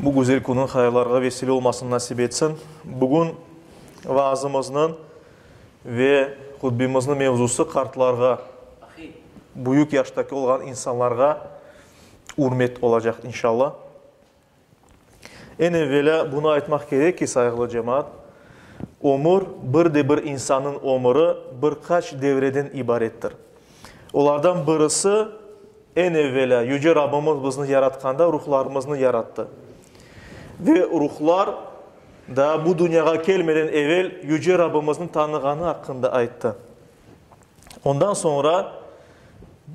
Bu güzel künüñ hayallarğa vesile olmasını nasip etsin. Bugün vaazımıznıñ ve hutbemiznıñ mevzusı qartlarğa, büyük yaştaki olğan insanlarğa ürmet olacaq, inşallah. Eñ evvelâ bunı aytmaq kerek ki, sayğılı cemaat, ömür, bir de bir insannıñ ömüri bir qaç devreden ibarettir. Olardan birisi, Eñ evelâ, Yüce Rabbimiz bizni yaratqanda ruhlarımıznı yarattı. Ve ruhlar daa bu dünyağa kelmeden evel Yüce Rabbimizni tanığanı aqqında ayttı. Ondan soñra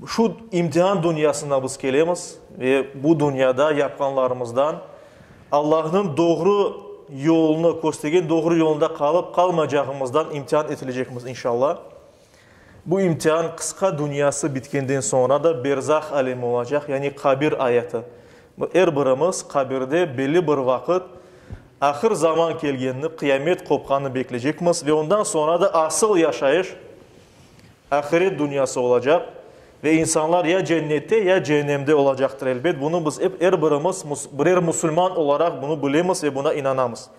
şu imtihan dünyasına biz kelemiz ve bu dünyada yapqanlarımızdan Allahnıñ doğru yolunı, köstergen doğru yolunda qalıp-qalmaycağımızdan imtihan etilecekmiz, inşallah. Bu imtihan qısqa dünyası bitkenden soñra da berzah alemi olacaq, yani qabir ayatı. Er birimiz qabirde belli bir vaqıt ahır zaman kelgenini, qıyamet qopqanını bekleycekmiz ve ondan soñra da asıl yaşayış ahiret dünyası olacaq ve insanlar ya cennette, ya cehennemde olacaqtır. Elbet, bunı biz er birimiz birer musulman olaraq bunu bilemiz ve buna inanamız.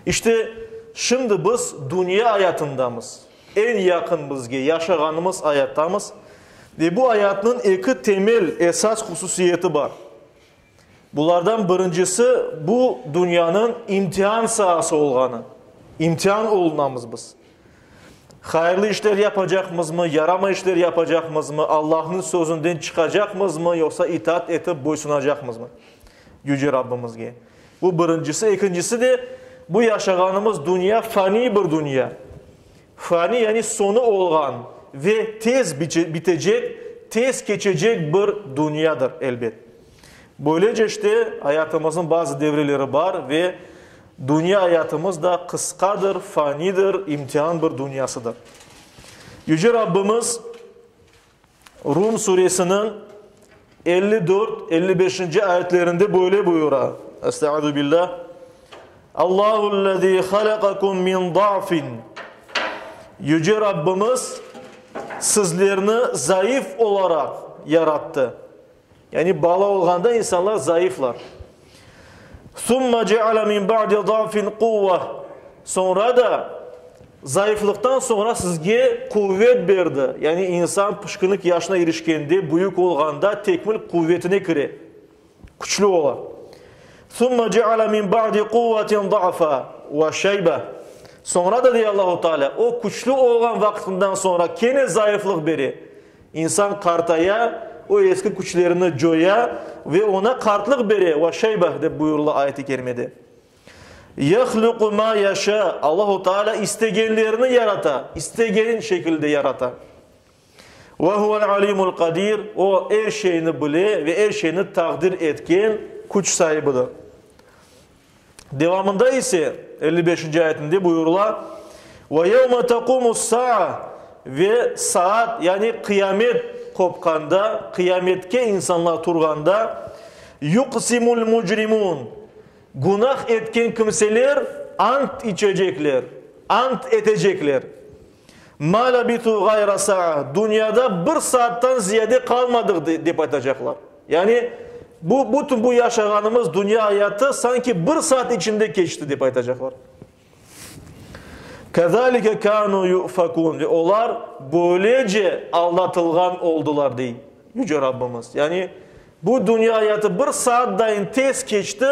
İşte, şimdi biz dünya ayatındamız, eñ yaqın bizge, yaşağanımız ayattamiz. Ve bu ayatnıñ eki temel, esas hususiyeti bar. Bulardan birincisi, bu dünyanıñ imtian saası olğanı, imtian olunamız biz. Hayırlı işler yapacaqmızmı, yaramay işler yapacaqmızmı, Allahnıñ sözünden çıqacaqmızmı, yoqsa itaat etip boysunacaqmızmı Yüce Rabbimizge? Bu birincisi. Ekincisi de, bu yaşağanımız dünya faniy bir dünya. Faniy, yani soñu olğan ve tez bitecek, tez keçecek bir dünyadır, elbet. Böylece işte, ayatımıznıñ bazı devreleri bar ve dünya ayatımız da qısqadır, fanidir, imtihan bir dünyasıdır. Yüce Rabbimiz. Rum Suresiniñ elli dört, elli beşinci ayetlerinde böyle buyura, Estağuzubillah, Allahu'l-lezî halaqakum min da'fin, Yüce Rabbimiz sizlerni zayıf olaraq yarattı. Yani bala olğanda insanlar zayıflar. Summa ceale min ba'di zafin quvva. Soñra da, zayıflıqtan soñra sizge quvet berdi. Yani insan pişkinlik yaşına irişkende, büyük olğanda tekmil quvetine kire, küçlü ola. Summa ceale min ba'di quvvatin za'fa ve şeybe. Soñra da, dey Allahu Teala, o küçlü olğan vaqtından soñra kene zayıflıq bere. İnsan qartaya, o eski küçlerini coya ve oña qartlıq bere, va şeybeh, dep buyurıla ayet-i kerimede. Yahluqu ma yaşâ, Allahu Teala istegenlerini yarata, istegeni şekilde yarata. Ve huvel alimul qadir, o, er şeyni bile ve er şeyni taqdir etken küç saibidir. Devamında ise, elli beşinci ayetinde buyurıla, Ve yevme tequmus-saa ve saat, yani qıyamet qopqanda, qıyametke insanlar turğanda, yuqsimul-mucrimun, günah etken kimseler ant içecekler, ant etecekler. Ma labitu ğayra saa, dünyada bir saattan ziyade qalmadıq, dep aytacaqlar. Yani, bu, bütün bu yaşağanımız dünya ayatı sanki bir saat içinde keçti, dep aytacaqlar. Kezalike kanu yu'fakun, ve olar böylece aldatılğan oldular, dey Yüce Rabbimiz. Yani, Bu dünya ayatı bir saattayin tez keçti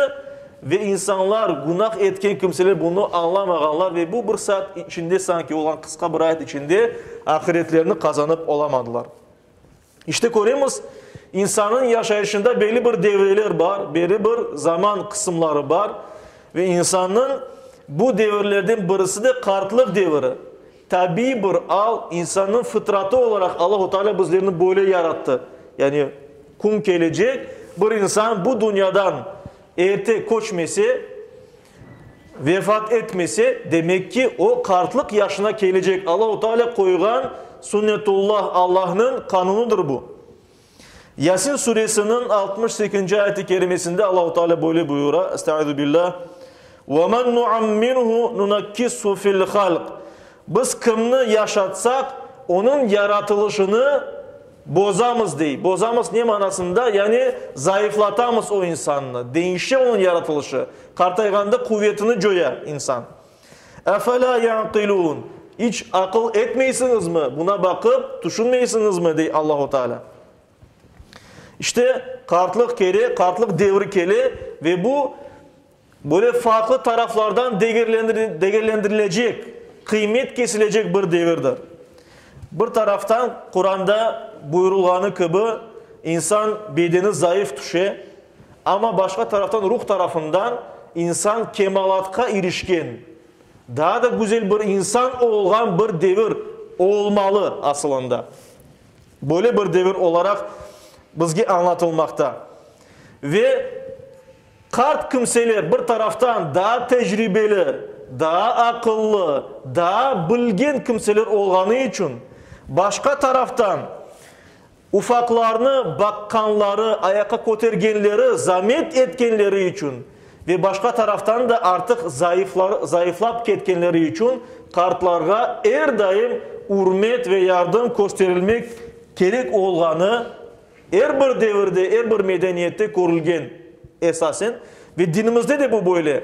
ve insanlar, günah etken kimseler bunı añlamağanlar ve bu bir saat içinde sanki olğan qısqa bir ayat içinde ahiretlerini qazanıp olamadılar. İşte köremiz, insannıñ yaşayışında belli bir devreler bar, belli bir zaman qısımları bar ve insannıñ bu devirlerden birisi de qartlıq deviri. Tabiiy bir al, insannıñ fıtratı olaraq Allahu Teala bizlerni böyle yarattı. Yani kün kelecek, bir insan bu dünyadan erte köçmese, vefat etmese, demek ki, o qartlıq yaşına kelecek. Allahu Teala qoyğan sünnetullah, Allahnıñ qanunıdır bu. Yasin Suresiniñ altmış sekinci ayet-i kerimesinde Allahu Teala böyle buyura, Estaizubillah, Ve men nuammirhu nunakkishu fil halq. Biz kimni yaşatsaq, onıñ yaratılışını bozamız, dey. Bozamız ne manasında? Yani zayıflatamız o insannı, deñişe onıñ yaratılışı. Qartayğanda quvetini coya insan. Efela yaqilûn, iç aqıl etmeysiñizmi, buna baqıp, tüşünmeysiñizmi? dey Allahu Teala. İşte, qartlıq kele, qartlıq devri kele ve bu, böyle farqlı taraflardan degerlendirilecek, qıymet kesilecek bir devirdir. Bir taraftan, Quranda buyurılğanı kibi, insan bedeni zayıf tüşe, Amma başqa taraftan ruh tarafından insan kemalatqa irişken, daa da güzel bir insan olğan bir devir olmalı asılında. Böyle bir devir olaraq bizge añlatılmaqta. Ve qart kimseler bir taraftan daa tecribeli, daa aqıllı, daa bilgen kimseler olğanı içün, başqa taraftan Ufaqlarnı baqqanları, ayaqqa kötergenleri, zamet etkenleri içün ve başqa taraftan da artıq zayıfları, zayıflap ketkenleri içün qartlarğa er daim ürmet ve yardım kösterilmek kerek olğanı er bir devirde, er bir medeniyette körülgen esasen ve dinimizde de bu böyle.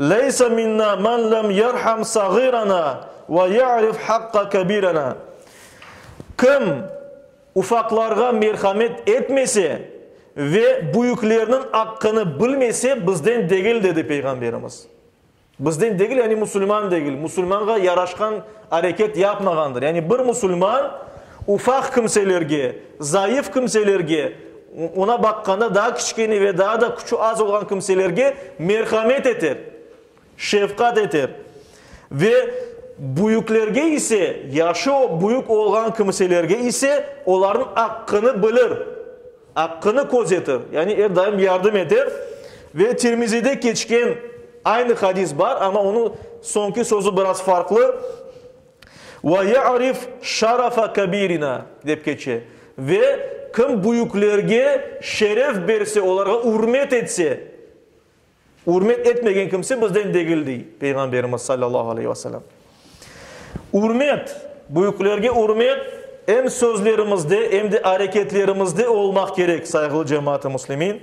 Leysa minna men lem yerham sağirana ve ya'rif haqqa kebirena, Kim ufaqlarğa merhamet etmese ve büyüklerniñ aqqını bilmese, bizden degil, dedi Peyğamberimiz. Bizden degil, yani musulman degil, musulmanğa yaraşqan areket yapmağandır. Yani bir musulman, Ufaq kimselerge, zayıf kimselerge, oña baqqanda daa kiçkene ve daa da küçü az olğan kimselerge merhamet eter, şefqat eter. Ve büyüklerge ise, yaşı büyük olğan kimselerge ise olarnıñ aqqını bilir, aqqını közetir, yani er daim yardım eter. Ve Tirmizide keçken aynı hadis bar, amma onıñ soñki sözü biraz farqlı. Ve ya'rif şarafa kebirina, dep keçe. Ve kim büyüklerge şeref berse, olarğa ürmet etse, ürmet etmegen kimse bizden degil, dey Peyğamberimiz sallallahu aleyhi ve selem. Ürmet, büyüklerge ürmet em sözlerimizde, em de areketlerimizde olmaq kerek, sayğılı cemaat-ı muslimin.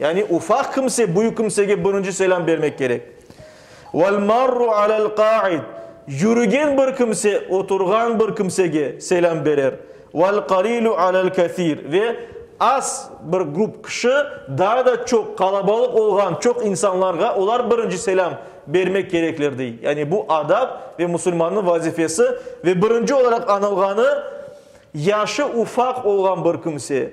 Yani ufaq kimse büyük kimsege birinci selâm bermek kerek. Vel marru alel qaid, yürügen bir kimse oturğan bir kimsege selâm berer. Vel qalilu alel kathir, ve az bir grup kişi daa da çoq qalabalıq olğan çoq insanlarğa olar birinci selâm bermek kerekler dey. Yani bu adab ve musulmannıñ vazifesi ve birinci olaraq anılğanı yaşı ufaq olğan bir kimse.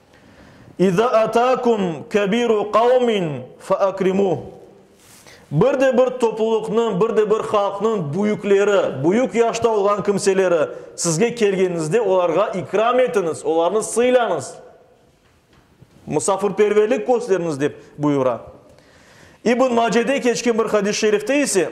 İza atâkum kebiru qavmin feakrimuh, Bir de bir toplulıqnıñ, bir de bir halqnıñ büyükleri, büyük yaşta olğan kimseleri sizge kelgenizde olarğa ikram etiñiz, olarnı sıylañız, musafirperverlik kösteriñiz, dep buyura. İbn Macede keçken bir hadis-şerifte ise,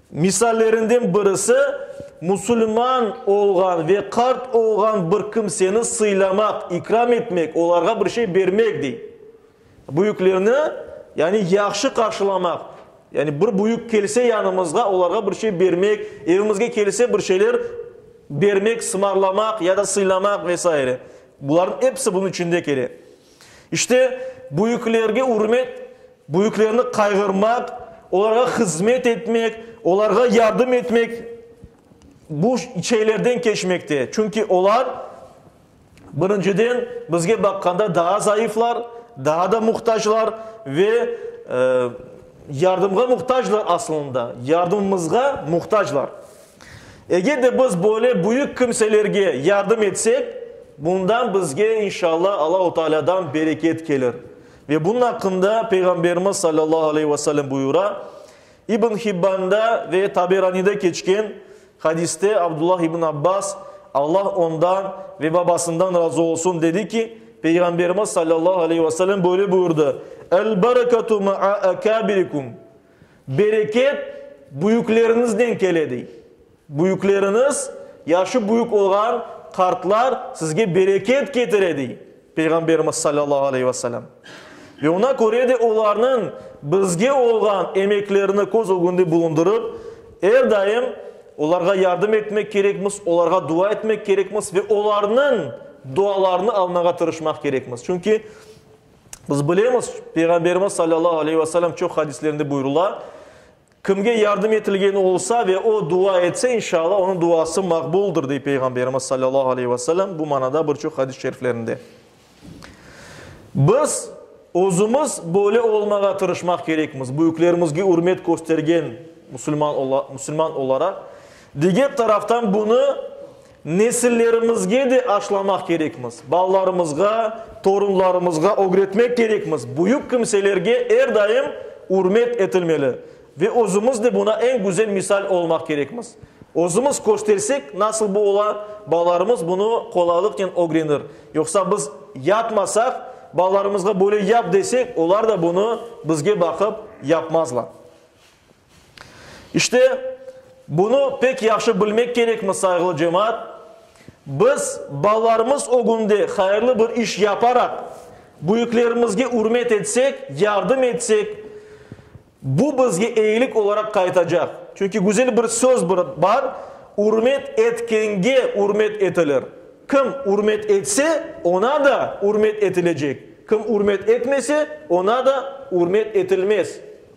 Misallerinden birisi, musulman olğan ve qart olğan bir kimseni sıylamaq, ikram etmek, olarğa bir şey bermek, dey. Büyüklerni, yani yahşı qarşılamaq, yani bir büyük kelse yanımızğa, olarğa bir şey bermek, evimizge kelse bir şeyler bermek, sımarlamaq ya da sıylamaq ve saire. Bularnıñ episi bunıñ içinde kele. İşte, büyüklerge ürmet, büyüklerni qayğırmaq, olarğa hızmet etmek, olarğa yardım etmek bu şeylerden keçmekte. Çünki olar, birinciden, bizge baqqanda daa zayıflar, daa da muhtaclar ve yardımğa muhtaclar aslında, yardımımızğa muhtaclar. Eger de biz böyle büyük kimselerge yardım etsek, bundan bizge, inşalla, Allahu Taalâdan bereket kelir. Ve bunun aqqında Peyğamberimiz sallallahu aleyhi ve sellem buyura, İbn Hibbanda ve Taberanide keçken hadiste Abdullah ibn Abbas, Allah ondan ve babasından razı olsun, dedi ki, Peyğamberimiz sallallahu aleyhi ve sellem böyle buyurdı, El-berekatu ma'a akâbirikum, Bereket büyükleriñizden kele, dey. Büyükleriñiz, yaşı büyük olğan qartlar sizge bereket ketire, dey Peyğamberimiz salâllahu aleyhi ve selâm. Ve oña köre de olarnıñ bizge olğan emeklerini köz ögünde bulundırıp, er daim olarğa yardım etmek kerekmiz, olarğa dua etmek kerekmiz ve olarnıñ dualarını almağa tırışmaq kerekmiz. Çünki. Biz bilemiz, Peyğamberimiz salâllahu aleyhi ve selem çoq hadislerinde buyurula, Kimge yardım etilgeni olsa ve o dua etse, inşalla, onıñ duası maqbuldır, dey Peyğamberimiz salâllahu aleyhi ve selem bu manada bir çoq hadis-i şeriflerinde. Biz özümiz böyle olmağa tırışmaq kerekmiz, büyüklerimizge ürmet köstergen musulman, musulman olaraq. Diger taraftan bunı Nesillerimizge de aşlamaq kerekmiz, balalarımızğa, torunlarımızğa ögretmek kerekmiz, büyük kimselerge er daim ürmet etilmeli ve özümiz de buna eñ güzel misal olmaq kerekmiz. Özümiz köstersek, nasıl bu ola, balalarımız bunı qolaylıqnen ögrenir. Yoqsa biz yapmasaq, balalarımızğa böyle yap desek, olar da bunı bizge baqıp yapmazlar. İşte, bunı pek yahşı bilmek kerekmi, sayğılı cemaat? Biz, balalarımız ögünde hayırlı bir iş yaparaq, büyüklerimizge ürmet etsek, yardım etsek, bu bizge eyilik olaraq qaytacaq. Çünki güzel bir söz bir bar, Ürmet etkenge ürmet etilir. Kim ürmet etse, oña da ürmet etilecek, kim ürmet etmese, oña da ürmet etilmez.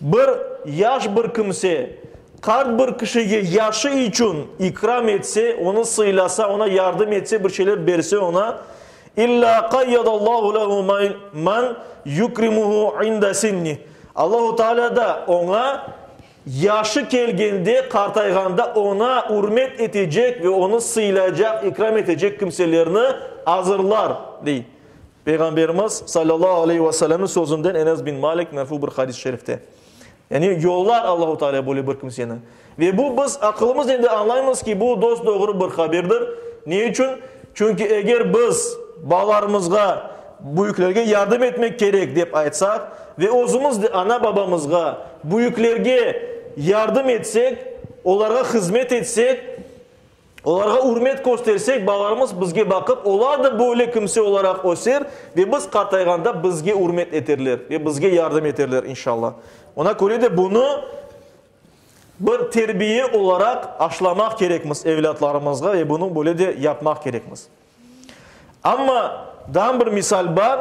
Bir yaş bir kimse qart bir kişige yaşı içün ikram etse, onı sıylasa, ona yardım etse, bir şeyler berse oña, İllâ qayyadallahu lehu men yukrimuhu inda sinnih, Allahu Teala da oña yaşı kelgende, qartayğanda oña ürmet etecek ve onı sıylaycaq, ikram etecek kimselerni azırlar, dey. Peyğamberimiz salâllahu aleyhi ve sellemniñ sözünden Enes bin Malik merfu bir hadis-i şerifte, yani yollar Allahu Teala böyle bir kimseni. Ve bu biz aqılımıznen de añlaymız ki, bu dosdoğru bir haberdir. Ne içün? Çünki eger biz balalarımızğa büyüklerge yardım etmek kerek dep aytsaq ve özümiz de ana-babamızğa, büyüklerge yardım etsek, olarğa hızmet etsek, Olarğa ürmet köstersek, balalarımız bizge baqıp, olar da böyle kimse olaraq öser ve biz qartayğanda bizge ürmet eterler ve bizge yardım eterler, inşalla. Oña köre de bunı bir terbiye olaraq aşlamaq kerekmiz evlâtlarımızğa ve bunı böyle de yapmaq kerekmiz. Amma, daa bir misal bar,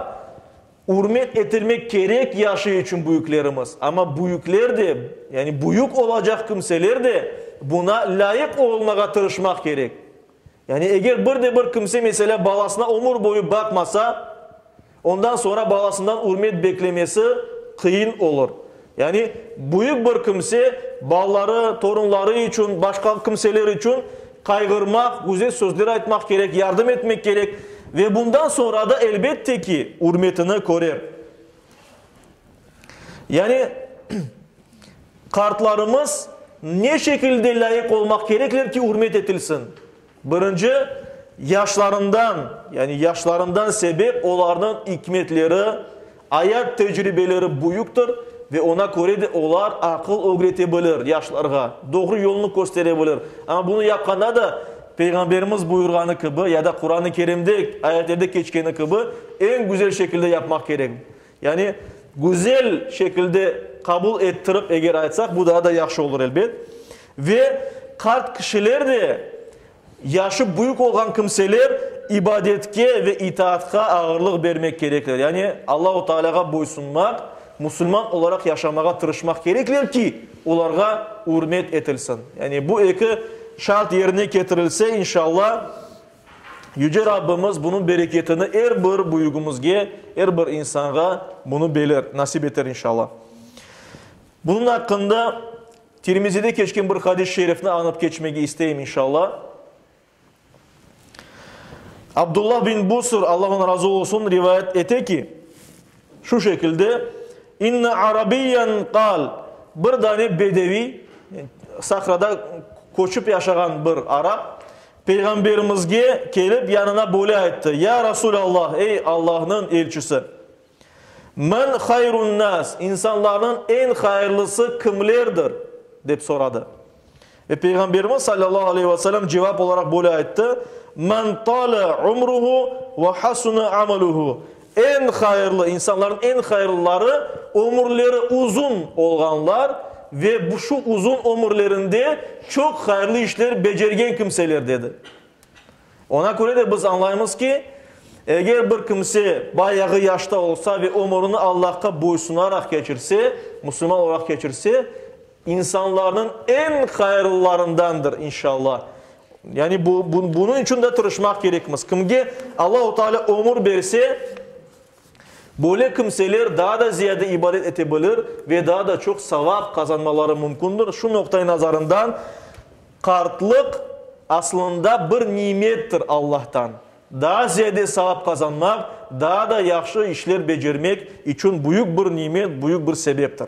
ürmet etilmek kerek yaşı içün büyüklerimiz, amma büyükler de, yani büyük olacaq kimseler de buna lâyıq olmağa tırışmaq kerek. Yani eger bir de bir kimse, meselâ, balasına ömür boyu baqmasa, Ondan soñra balasından ürmet beklemesi qıyın olur. Yani, büyük bir kimse balaları, torunları içün, başqa kimseler içün qayğırmaq, güzel sözler aytmaq kerek, yardım etmek kerek. Ve bundan soñra da, elbette ki, ürmetini körer. Yani, qartlarımız ne şekilde lâyıq olmaq kerekler ki, ürmet etilsin? Birinci, yaşlarından, yani yaşlarından sebep olarnıñ ikmetleri, ayat tecribeleri büyüktir ve oña köre de olar aqıl ögrete bilir yaşlarğa, doğru yolnı köstere bilir. Amma bunı yapqanda da Peyğamberimiz buyurğanı kibi ya da Quran-ı Kerimde, ayetlerde keçkeni kibi eñ güzel şekilde yapmaq kerek. Yani, güzel şekilde qabul ettirip eger aytsaq, bu daa da yahşı olur, elbet. Ve qart kişiler de, yaşı büyük olğan kimseler ibadetke ve itaatqa ağırlıq bermek kerekler. Yani, Allahu Taalâğa boysunmaq, musulman olaraq yaşamağa tırışmaq kerekler ki, olarğa ürmet etilsin. Yani, bu eki şart yerine ketirilse, inşalla, Yüce Rabbimiz bunıñ bereketini er bir büyügimizge, er bir insanğa bunı beler, nasip eter, inşalla. Bunıñ aqqında Tirmizide keçken bir hadis-i şerifni añıp keçmege isteyim, inşalla. Abdullah bin Busr, Alla ondan razı olsun, rivayet ete ki, şu şekilde, İnne arabiyyen qal, bir dane bedeviy, sahrada köçip yaşağan bir arap, Peyğamberimizge kelip yanına böyle ayttı, Ya Resul Allah, ey Allahnıñ elçisi! Men hayrun nas, insanlarnıñ eñ hayırlısı kimlerdir? dep soradı. Ve Peyğamberimiz sallallahu aleyhi ve sellem cevap olaraq böyle ayttı, Men tale umruhu ve hasune amaluhu, Eñ hayırlı, insanlarnıñ eñ hayırlıları, ömürleri uzun olğanlar ve şu uzun ömürlerinde çoq hayırlı işler becergen kimseler, dedi. Oña köre de biz añlaymız ki, eger bir kimse bayağı yaşta olsa ve ömürini Allahqa boysunaraq keçirse, musulman olaraq keçirse, İnsanlarnıñ eñ hayırlılarındandır, inşalla. Yani bu, bunıñ içün de tırışmaq kerekmiz. Kimge Allahu Teala ömür berse, böyle kimseler daa da ziyade ibadet ete bilir ve daa da çoq savap qazanmaları mümkündir. Şu noqta-i nazarından qartlıq aslında bir nimettir Allahtan. Daa ziyade savap qazanmaq, daa da yahşı işler becermek içün büyük bir nimet, büyük bir sebeptir.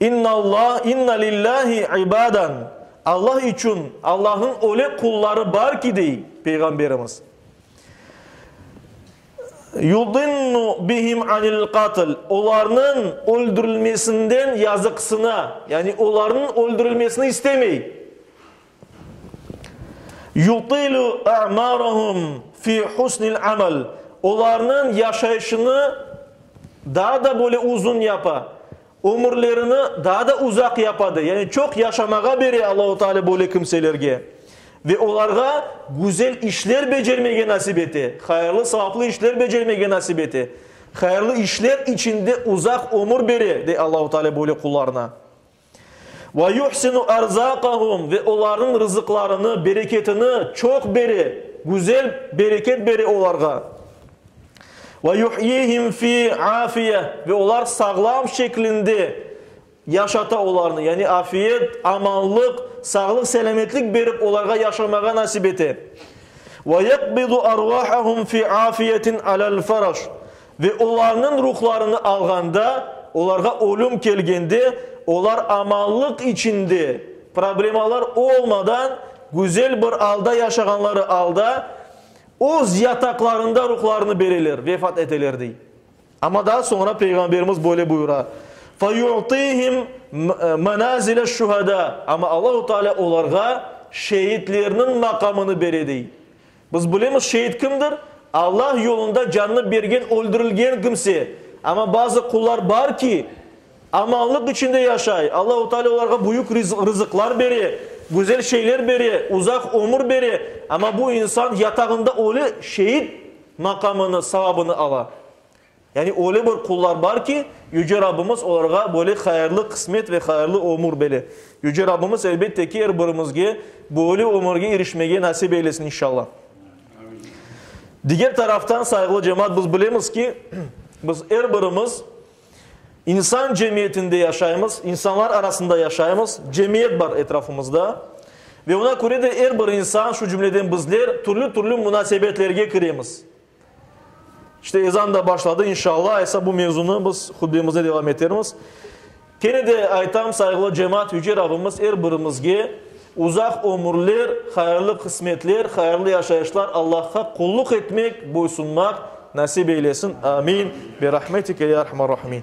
İnnallah, inna lillahi ibaden, Allah içün, Allahnıñ öyle qulları bar ki, dey Peyğamberimiz, yudinnu bihim anil qatl, olarnıñ öldürilmesinden yazıqsına, yani olarnıñ öldürilmesini istemey. Yutilu a'maruhum fi husnil amal, olarnıñ yaşayışını daa da böyle uzun yapa, ömürlerini daa da uzaq yapa, dey, yani çoq yaşamağa bere Allahu Teala böyle kimselerge ve olarğa güzel işler becermege nasip ete, hayırlı, savaplı işler becermege nasip ete, hayırlı işler içinde uzaq ömür bere, dey Allahu Teala böyle qullarına. Ve yuhsinu erzâkahum ve olarnıñ rızıqlarını, bereketini çoq bere, güzel bereket bere olarğa. Ve yuhyihim fi afiyeh ve olar sağlam şeklinde yaşata olarnı, yani afiyet, amanlıq, sağlıq-selâmetlik berip olarğa yaşamağa nasip ete. Ve yaqbidu arvâhahum fi afiyetin alâ'l-faraş Ve olarnıñ ruhlarını alğanda, olarğa ölüm kelgende, olar amallıq içinde, problemalar olmadan, güzel bir alda yaşağanları alda, öz yataqlarında ruhlarını bereler, vefat eteler, dey. Amma daa soñra Peyğamberimiz böyle buyura, Fe yu'tihim menazile şuhada, amma Allahu Teala olarğa şeitlerniñ maqamını bere, dey. Biz bilemiz, şeid kimdir? Allah yolunda canını bergen, öldürilgen kimse. Amma bazı qullar bar ki, amanlıq içinde yaşay, Allahu Teala olarğa büyük rızıqlar bere, güzel şeyler bere, uzaq ömür bere, amma bu insan yatağında ölü, şeid maqamını, savabını ala. Yani öyle bir qullar bar ki, Yüce Rabbimiz olarğa böyle hayırlı qısmet ve hayırlı ömür bere. Yüce Rabbimiz, elbette ki, er birimizge böyle ömürge irişmege nasip eylesin, inşallah. Diger taraftan, sayğılı cemaat, biz bilemiz ki, biz er birimiz insan cemiyetinde yaşaymız, insanlar arasında yaşaymız, cemiyet bar etrafımızda. Ve ona köre de er bir insan, şu cümleden bizler, türlü-türlü munasebetlerge kiremiz. İşte ezan da başladı, inşallah esa bu mevzunı biz hutbemizde devam etermiz. Kene de aytam, sayğılı cemaat, Yüce Rabbimiz er birimizge uzaq ömürler, hayırlı qısmetler, hayırlı yaşayışlar, Allahqa qulluq etmek, boysunmaq nasip eylesin. Amin. Bi rahmetike ya erhamar rahimin.